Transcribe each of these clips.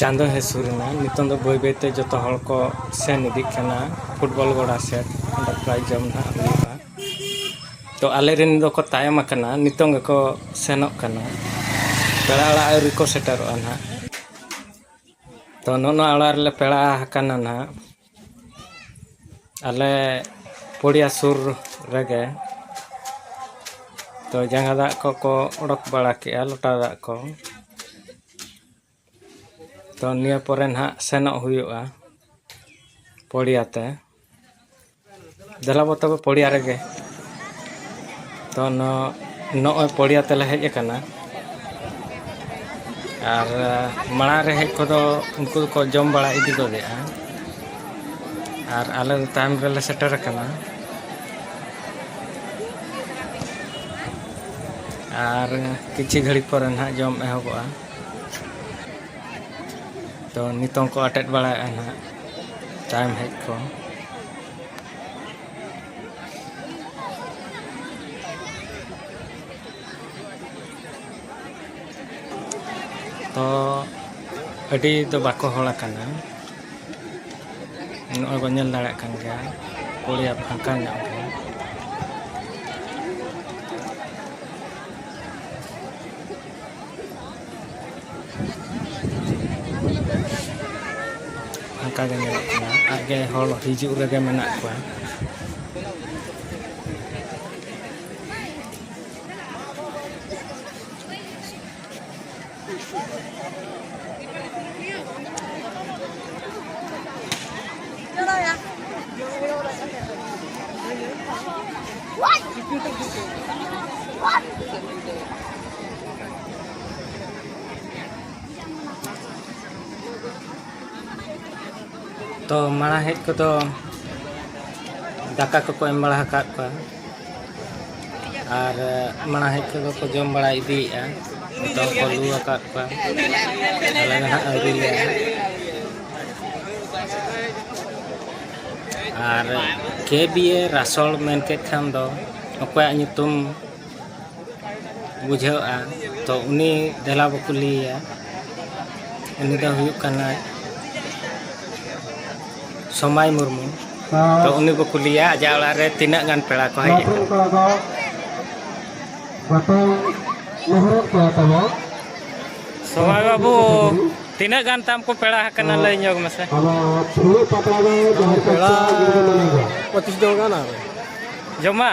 ᱪᱟᱸᱫᱚ ᱦᱮᱡ ᱥᱩᱨ ᱮᱱᱟ ᱱᱤᱛᱚᱝ ᱫᱚ ᱵᱟᱹᱭ ᱵᱟᱹᱭᱛᱮ ᱡᱚᱛᱚ ᱦᱚᱲ ᱠᱚ ᱥᱮᱱ ᱤᱫᱤᱜ ᱠᱟᱱᱟ ᱯᱷᱩᱴᱵᱚᱞ ᱜᱚᱰᱟ ᱥᱮᱫ ᱚᱸᱰᱮ ᱯᱨᱟᱭᱤᱡᱽ ᱡᱚᱢ ᱱᱟᱜ ᱦᱩᱭᱩᱜᱼᱟ ᱛᱚ ᱟᱞᱮ ᱨᱮᱱ ᱫᱚᱠᱚ ᱛᱟᱭᱚᱢ ᱟᱠᱟᱱᱟ ᱱᱤᱛᱚᱝ ᱜᱮᱠᱚ ᱥᱮᱱᱚᱜ ᱠᱟᱱᱟ ᱯᱮᱲᱟ ᱚᱲᱟᱜ ᱟᱹᱣᱨᱤ ᱠᱚ ᱥᱮᱴᱮᱨᱚᱜᱼᱟ ᱱᱟᱜ ᱛᱚ ᱱᱚᱜᱼᱚ ᱱᱚᱣᱟ ᱚᱲᱟᱜ ᱨᱮᱞᱮ ᱯᱮᱲᱟ ᱟᱠᱟᱱᱟ ᱱᱟᱜ ᱟᱞᱮ ᱯᱚᱲᱤᱭᱟ ᱥᱩᱨ ᱨᱮᱜᱮ ᱛᱚ ᱡᱟᱸᱜᱟ ᱫᱟᱜ ᱠᱚᱠᱚ ᱚᱰᱚᱠ ᱵᱟᱲᱟ ᱠᱮᱜᱼᱟ ᱞᱚᱴᱟ ᱫᱟᱜ ᱠᱚ ᱛᱚ ᱱᱤᱭᱟᱹ ᱯᱚᱨᱮ ᱱᱟᱜ ᱥᱮᱱᱚᱜ ᱦᱩᱭᱩᱜᱼᱟ ᱯᱚᱲᱤᱭᱟ ᱛᱮ ᱫᱮᱞᱟ ᱵᱚ ᱛᱚᱵᱮ ᱯᱚᱲᱤᱭᱟ ᱨᱮᱜᱮ ᱛᱚ ᱱᱚᱜᱼᱚᱭ ᱯᱚᱲᱤᱭᱟ ᱛᱮᱞᱮ ᱦᱮᱡ ᱟᱠᱟᱱᱟ ᱟᱨ ᱢᱟᱲᱟᱝ ᱨᱮ ᱦᱮᱡ ᱠᱚᱫᱚ ᱩᱱᱠᱩ ᱫᱚᱠᱚ ᱡᱚᱢ ᱵᱟᱲᱟ ᱤᱫᱤ ᱜᱚᱫᱮᱜᱼᱟ ᱟᱨ ᱟᱞᱮ ᱫᱚ ᱛᱟᱭᱚᱢ ᱨᱮᱞᱮ ᱥᱮᱴᱮᱨ ᱟᱠᱟᱱᱟ ᱟᱨ ᱠᱤᱪᱷᱩ ᱜᱷᱟᱹᱲᱤᱡ ᱯᱚᱨᱮ ᱱᱟᱦᱟᱜ ᱡᱚᱢ ᱮᱦᱚᱵᱚᱜᱼᱟ ᱛᱚ ᱱᱤᱛᱚᱝ ᱠᱚ ᱟᱴᱮᱫ ᱵᱟᱲᱟᱭᱮᱫᱼᱟ ᱱᱟᱦᱟᱜ ᱴᱟᱭᱤᱢ ᱦᱮᱡ ᱠᱚ ᱛᱚ ᱟᱹᱰᱤ ᱫᱚ ᱵᱟᱠᱚ ᱦᱚᱲ ᱟᱠᱟᱱᱟ ᱱᱚᱜᱼᱚᱭ ᱵᱚᱱ ᱧᱮᱞ ᱫᱟᱲᱮᱭᱟᱜ ᱠᱟᱱ ᱜᱮᱭᱟ ᱯᱚᱲᱤᱭᱟ ᱯᱷᱟᱸᱠᱟ ᱧᱚᱜ ᱜᱮᱭᱟ ᱚᱱᱠᱟ ᱜᱮ ᱧᱮᱞᱚᱜ ᱠᱟᱱᱟ ᱟᱨ ᱜᱮ ᱦᱚᱲ ᱦᱤᱡᱩᱜ ᱨᱮᱜᱮ ᱢᱮᱱᱟᱜ ᱠᱚᱣᱟ ᱛᱚ ᱢᱟᱲᱟᱝ ᱦᱮᱡ ᱠᱚᱫᱚ ᱫᱟᱠᱟ ᱠᱚᱠᱚ ᱮᱢ ᱵᱟᱲᱟ ᱟᱠᱟᱫ ᱠᱚᱣᱟ ᱟᱨ ᱢᱟᱲᱟᱝ ᱦᱮᱡ ᱠᱚᱫᱚ ᱠᱚ ᱡᱚᱢ ᱵᱟᱲᱟ ᱤᱫᱤᱭᱮᱫᱼᱟ ᱱᱤᱛᱚᱜ ᱠᱚ ᱞᱩ ᱟᱠᱟᱫ ᱠᱚᱣᱟ ᱟᱞᱮ ᱫᱚ ᱦᱟᱸᱜ ᱟᱹᱣᱨᱤ ᱞᱮ ᱟᱨ ᱠᱮ ᱵᱤ ᱮ ᱨᱟᱥᱚᱲ ᱢᱮᱱ ᱠᱮᱫ ᱠᱷᱟᱱ ᱫᱚ ᱚᱠᱚᱭᱟᱜ ᱧᱩᱛᱩᱢ ᱵᱩᱡᱷᱟᱹᱜᱼᱟ ᱛᱚ ᱩᱱᱤ ᱫᱮᱞᱟ ᱵᱚ ᱠᱩᱞᱤᱭᱮᱭᱟ ᱩᱱᱤ ᱫᱚ ᱦᱩᱭᱩᱜ ᱠᱟᱱᱟᱭ ᱥᱚᱢᱟᱭ ᱢᱩᱨᱢᱩ ᱛᱚ ᱩᱱᱤ ᱵᱚ ᱠᱩᱞᱤᱭᱮᱭᱟ ᱟᱡᱟᱜ ᱚᱲᱟᱜ ᱨᱮ ᱛᱤᱱᱟᱹᱜ ᱜᱟᱱ ᱯᱮᱲᱟ ᱠᱚ ᱦᱮᱡ ᱟᱠᱟᱱᱟ ᱥᱚᱢᱟᱭ ᱵᱟᱹᱵᱩ ᱛᱤᱱᱟᱹᱜ ᱜᱟᱱ ᱛᱟᱢ ᱠᱚ ᱯᱮᱲᱟ ᱟᱠᱟᱱᱟ ᱞᱟᱹᱭ ᱧᱚᱜ ᱢᱮᱥᱮ ᱯᱮᱲᱟ ᱯᱚᱸᱪᱤᱥ ᱡᱚᱱ ᱜᱟᱱ ᱟᱨ ᱡᱚᱢᱟ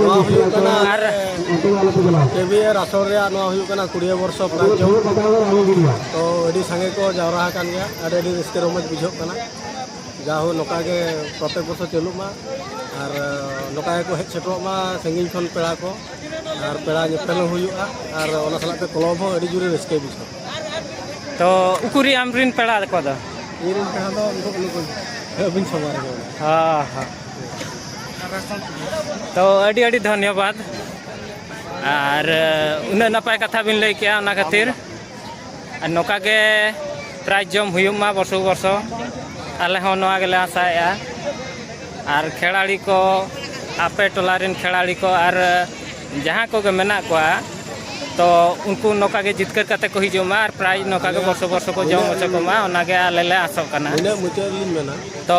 ᱱᱚᱣᱟ ᱦᱩᱭᱩᱜ ᱠᱟᱱᱟ ᱠᱮᱵᱤᱭᱟᱨ ᱟᱥᱚᱨ ᱨᱮᱭᱟᱜ ᱱᱚᱣᱟ ᱦᱩᱭᱩᱜ ᱠᱟᱱᱟ ᱠᱩᱲᱤᱭᱟᱹ ᱵᱚᱨᱥᱚ ᱯᱨᱟᱱᱪᱚ ᱛᱚ ᱟᱹᱰᱤ ᱥᱟᱸᱜᱮ ᱠᱚ ᱡᱟᱣᱨᱟ ᱟᱠᱟᱱ ᱜᱮᱭᱟ ᱟᱹᱰᱤ ᱟᱹᱰᱤ ᱨᱟᱹᱥᱠᱟᱹ ᱨᱚᱢᱚᱡᱽ ᱵᱩᱡᱷᱟᱹᱜ ᱠᱟᱱᱟ ᱡᱟᱦᱳ ᱱᱚᱝᱠᱟ ᱜᱮ ᱯᱨᱚᱛᱮᱠ ᱵᱚᱪᱷᱚᱨ ᱪᱟᱹᱞᱩᱜ ᱢᱟ ᱟᱨ ᱱᱚᱝᱠᱟ ᱜᱮᱠᱚ ᱦᱮᱡ ᱥᱮᱴᱮᱨᱚᱜ ᱢᱟ ᱥᱟᱺᱜᱤᱧ ᱠᱷᱚᱱ ᱯᱮᱲᱟ ᱠᱚ ᱟᱨ ᱯᱮᱲᱟ ᱧᱮᱯᱮᱞ ᱦᱚᱸ ᱦᱩᱭᱩᱜᱼᱟ ᱟᱨ ᱚᱱᱟ ᱥᱟᱞᱟᱜ ᱛᱮ ᱠᱞᱚᱵᱽ ᱦᱚᱸ ᱟᱹᱰᱤ ᱡᱳᱨᱮ ᱨᱟᱹᱥᱠᱟᱹᱭ ᱵᱩᱡᱷᱟᱹᱣᱟ ᱛᱚ ᱩᱠᱩᱨᱤ ᱟᱢᱨᱤᱱ ᱯᱮᱲᱟ ᱠᱚᱫᱚ ᱤᱧᱨᱮᱱ ᱯᱮᱲᱟ ᱫᱚ ᱩᱱᱠᱩ ᱟᱹᱵᱤᱱ ᱥᱟᱢᱟᱝ ᱨᱮᱜᱮ ᱦᱮᱸ ᱦᱮᱸ ᱛᱚ ᱟᱹᱰᱤ ᱟᱹᱰᱤ ᱫᱷᱚᱱᱭᱚᱵᱟᱫᱽ ᱟᱨ ᱩᱱᱟᱹᱜ ᱱᱟᱯᱟᱭ ᱠᱟᱛᱷᱟ ᱵᱤᱱ ᱞᱟᱹᱭ ᱠᱮᱜᱼᱟ ᱚᱱᱟ ᱠᱷᱟᱹᱛᱤᱨ ᱟᱨ ᱱᱚᱝᱠᱟ ᱜᱮ ᱯᱨᱟᱭᱤᱡᱽ ᱡᱚᱢ ᱦᱩᱭᱩᱜ ᱢᱟ ᱵᱚᱨᱥᱚ ᱵᱚᱨᱥᱚ ᱟᱞᱮ ᱦᱚᱸ ᱱᱚᱣᱟ ᱜᱮᱞᱮ ᱟᱥᱟᱭᱮᱜᱼᱟ ᱟᱨ ᱠᱷᱮᱲᱟᱲᱤ ᱠᱚ ᱟᱯᱮ ᱴᱚᱞᱟ ᱨᱮᱱ ᱠᱷᱮᱲᱟᱲᱤ ᱠᱚ ᱟᱨ ᱡᱟᱦᱟᱸ ᱠᱚᱜᱮ ᱢᱮᱱᱟᱜ ᱠᱚᱣᱟ ᱛᱚ ᱩᱱᱠᱩ ᱱᱚᱝᱠᱟ ᱜᱮ ᱡᱤᱛᱠᱟᱹᱨ ᱠᱟᱛᱮ ᱠᱚ ᱦᱤᱡᱩᱜ ᱢᱟ ᱟᱨ ᱯᱨᱟᱭᱤᱡᱽ ᱱᱚᱝᱠᱟ ᱜᱮ ᱵᱚᱨᱥᱚ ᱵᱚᱨᱥᱚ ᱠᱚ ᱡᱚᱢ ᱦᱚᱪᱚ ᱠᱚᱢᱟ ᱚᱱᱟᱜᱮ ᱟᱞᱮ ᱞᱮ ᱟᱥᱚᱜ ᱠᱟᱱᱟ ᱛᱚ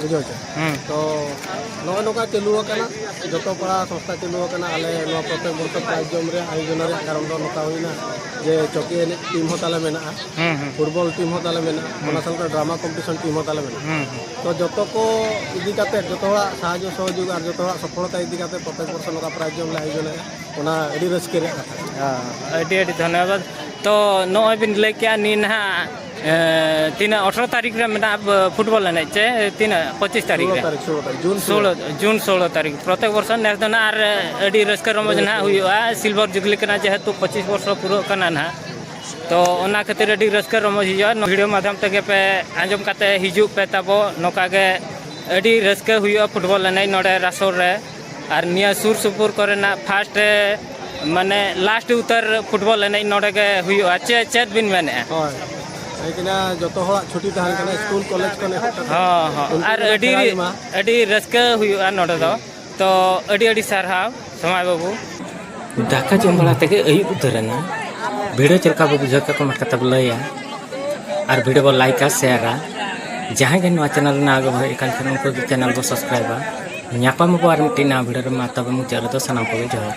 ᱵᱩᱡᱷᱟᱹᱣ ᱪᱮ ᱦᱩᱸ ᱛᱚ ᱱᱚᱜᱼᱚᱭ ᱱᱚᱝᱠᱟ ᱪᱟᱹᱞᱩ ᱟᱠᱟᱱᱟ ᱡᱚᱛᱚ ᱯᱟᱲᱟ ᱥᱚᱝᱥᱛᱷᱟ ᱪᱟᱹᱞᱩ ᱟᱠᱟᱱᱟ ᱟᱞᱮ ᱱᱚᱣᱟ ᱯᱨᱚᱛᱮᱠ ᱵᱚᱨᱥᱚ ᱯᱨᱟᱭᱤᱡᱽ ᱡᱚᱢ ᱨᱮᱭᱟᱜ ᱟᱭᱳᱡᱚᱱ ᱨᱮᱭᱟᱜ ᱠᱟᱨᱚᱱ ᱫᱚ ᱱᱚᱝᱠᱟ ᱦᱩᱭᱱᱟ ᱡᱮ ᱪᱚᱠᱤ ᱮᱱᱮᱡ ᱴᱤᱢ ᱦᱚᱸ ᱛᱟᱞᱮ ᱢᱮᱱᱟᱜᱼᱟ ᱦᱩᱸ ᱦᱩᱸ ᱯᱷᱩᱴᱵᱚᱞ ᱴᱤᱢ ᱦᱚᱸ ᱛᱟᱞᱮ ᱢᱮᱱᱟᱜᱼᱟ ᱚᱱᱟ ᱥᱟᱶᱛᱮ ᱰᱨᱟᱢᱟ ᱠᱚᱢᱯᱤᱴᱤᱥᱚᱱ ᱴᱤᱢ ᱦᱚᱸ ᱛᱟᱞᱮ ᱢᱮᱱᱟᱜᱼᱟ ᱦᱩᱸ ᱦᱩᱸ ᱛᱚ ᱡᱚᱛᱚ ᱠᱚ ᱤᱫᱤ ᱠᱟᱛᱮ ᱡᱚᱛᱚ ᱦᱚᱲᱟᱜ ᱥᱟᱦᱟᱡᱽᱡᱚ ᱥᱚᱦᱚᱡᱳᱜᱽ ᱟᱨ ᱡᱚᱛᱚ ᱦᱚᱲᱟᱜ ᱥᱚᱯᱷᱚᱞᱚᱛᱟ ᱤᱫᱤ ᱠᱟᱛᱮ ᱯᱨᱚᱛᱮᱠ ᱵᱚᱨᱥᱚ ᱱᱚᱝᱠᱟ ᱯᱨᱟᱭᱤᱡᱽ ᱡᱚᱢ ᱞᱮ ᱟᱭᱳᱡᱚᱱᱮᱫᱼᱟ ᱚᱱᱟ ᱟᱹᱰᱤ ᱨᱟᱹᱥᱠᱟᱹ ᱨᱮᱭᱟᱜ ᱠᱟᱛᱷᱟ ᱠᱟᱱᱟ ᱦᱮᱸ ᱟᱹᱰᱤ ᱟᱹᱰᱤ ᱫᱷᱚᱱᱱᱚᱵᱟᱫᱽ ᱛᱚ ᱱᱚᱜᱼᱚᱭ ᱵᱤᱱ ᱞᱟᱹᱭ ᱠᱮᱜᱼᱟ ᱱᱤ ᱱᱟᱦᱟᱜ ᱛᱤᱱᱟᱹᱜ ᱟᱴᱷᱨᱚ ᱛᱟᱹᱨᱤᱠᱷ ᱨᱮ ᱢᱮᱱᱟᱜ ᱯᱷᱩᱴᱵᱚᱞ ᱮᱱᱮᱡ ᱪᱮ ᱛᱤᱱᱟᱹᱜ ᱯᱚᱸᱪᱤᱥ ᱛᱟᱹᱨᱤᱠᱷ ᱨᱮ ᱥᱳᱞᱳ ᱡᱩᱱ ᱥᱳᱞᱳ ᱛᱟᱹᱨᱤᱠᱷ ᱯᱨᱚᱛᱮᱠ ᱵᱚᱨᱥᱚ ᱱᱮᱥ ᱫᱚ ᱱᱟᱜ ᱟᱨ ᱟᱹᱰᱤ ᱨᱟᱹᱥᱠᱟᱹ ᱨᱚᱢᱚᱡᱽ ᱱᱟᱜ ᱦᱩᱭᱩᱜᱼᱟ ᱥᱤᱞᱵᱷᱟᱨ ᱡᱩᱵᱽᱞᱤ ᱠᱟᱱᱟ ᱡᱮᱦᱮᱛᱩ ᱯᱚᱸᱪᱤᱥ ᱵᱚᱨᱥᱚ ᱯᱩᱨᱟᱹᱜ ᱠᱟᱱᱟ ᱱᱟᱜ ᱛᱚ ᱚᱱᱟ ᱠᱷᱟᱹᱛᱤᱨ ᱟᱹᱰᱤ ᱨᱟᱹᱥᱠᱟᱹ ᱨᱚᱢᱚᱡᱽ ᱦᱩᱭᱩᱜᱼᱟ ᱵᱷᱤᱰᱤᱭᱳ ᱢᱟᱫᱽᱫᱷᱚᱢ ᱛᱮᱜᱮ ᱯᱮ ᱟᱸᱡᱚᱢ ᱠᱟᱛᱮᱫ ᱦᱤᱡᱩᱜ ᱯᱮ ᱛᱟᱵᱚ ᱱᱚᱝᱠᱟ ᱜᱮ ᱟᱹᱰᱤ ᱨᱟᱹᱥᱠᱟᱹ ᱦᱩᱭᱩᱜᱼᱟ ᱯᱷᱩᱴᱵᱚᱞ ᱮᱱᱮᱡ ᱱᱚᱰᱮ ᱨᱟᱥᱚᱨ ᱨᱮ ᱟᱨ ᱱᱤᱭᱟᱹ ᱥᱩᱨ ᱥᱩᱯᱩᱨ ᱠᱚᱨᱮᱱᱟᱜ ᱯᱷᱟᱥᱴ ᱢᱟᱱᱮ ᱞᱟᱥᱴ ᱩᱛᱟᱹᱨ ᱯᱷᱩᱴᱵᱚᱞ ᱮᱱᱮᱡ ᱱᱚᱰᱮ ᱜᱮ ᱦᱩᱭᱩᱜᱼᱟ ᱪᱮᱫ ᱪᱮᱫ ᱵᱤᱱ ᱢᱮᱱᱮᱜᱼᱟ ᱦᱳᱭ ᱞᱮᱠᱤᱱᱟ ᱡᱚᱛᱚ ᱦᱚᱲᱟᱜ ᱪᱷᱩᱴᱤ ᱛᱟᱦᱮᱱ ᱠᱟᱱᱟ ᱥᱠᱩᱞ ᱠᱚᱞᱮᱡᱽ ᱠᱚ ᱱᱮᱦᱚᱨ ᱠᱟᱛᱮ ᱦᱚᱸ ᱦᱚᱸ ᱟᱨ ᱟᱹᱰᱤ ᱟᱹᱰᱤ ᱨᱟᱹᱥᱠᱟᱹ ᱦᱩᱭᱩᱜᱼᱟ ᱱᱚᱰᱮ ᱫᱚ ᱛᱚ ᱟᱹᱰᱤ ᱟᱹᱰᱤ ᱥᱟᱨᱦᱟᱣ ᱥᱚᱢᱟᱭ ᱵᱟᱹᱵᱩ ᱫᱟᱠᱟ ᱡᱚᱢ ᱵᱟᱲᱟ ᱛᱮᱜᱮ ᱟᱹᱭᱩᱵ ᱩᱛᱟᱹᱨᱮᱱᱟ ᱵᱷᱤᱰᱤᱭᱳ ᱪᱮᱫ ᱞᱮᱠᱟ ᱵᱚ ᱵᱩᱡᱷᱟᱹᱣ ᱠᱮᱫ ᱠᱚᱢᱮᱱᱴ ᱠᱟᱛᱮ ᱵᱚ ᱞᱟᱹᱭᱟ ᱟᱨ ᱵᱷᱤᱰᱤᱭᱳ ᱵᱚ ᱞᱟᱭᱤᱠᱟ ᱥᱮᱭᱟᱨᱟ ᱡᱟᱦᱟᱸᱭ ᱜᱮ ᱱᱚᱣᱟ ᱪᱮᱱᱮᱞ ᱨᱮᱱᱟᱜ ᱟᱜᱮ ᱦᱮᱡ ᱟᱠᱟᱱ ᱠᱷᱟᱱ ᱩᱱᱠᱩ ᱫᱚ ᱪᱮᱱᱮᱞ ᱵᱚ ᱥᱟᱵᱥᱠᱨᱟᱭᱤᱵᱟ ᱧᱟᱯᱟᱢ ᱟᱵᱚ ᱟᱨ ᱢᱤᱫᱴᱤᱡ ᱱᱟᱣᱟ ᱵᱷᱤᱰᱤᱭᱳ ᱨᱮ ᱢᱟ ᱛᱚᱵᱮ ᱢᱩᱪᱟᱹᱫ ᱨᱮᱫᱚ ᱥᱟᱱᱟᱢ ᱠᱚᱜᱮ ᱡᱚᱦᱟᱨ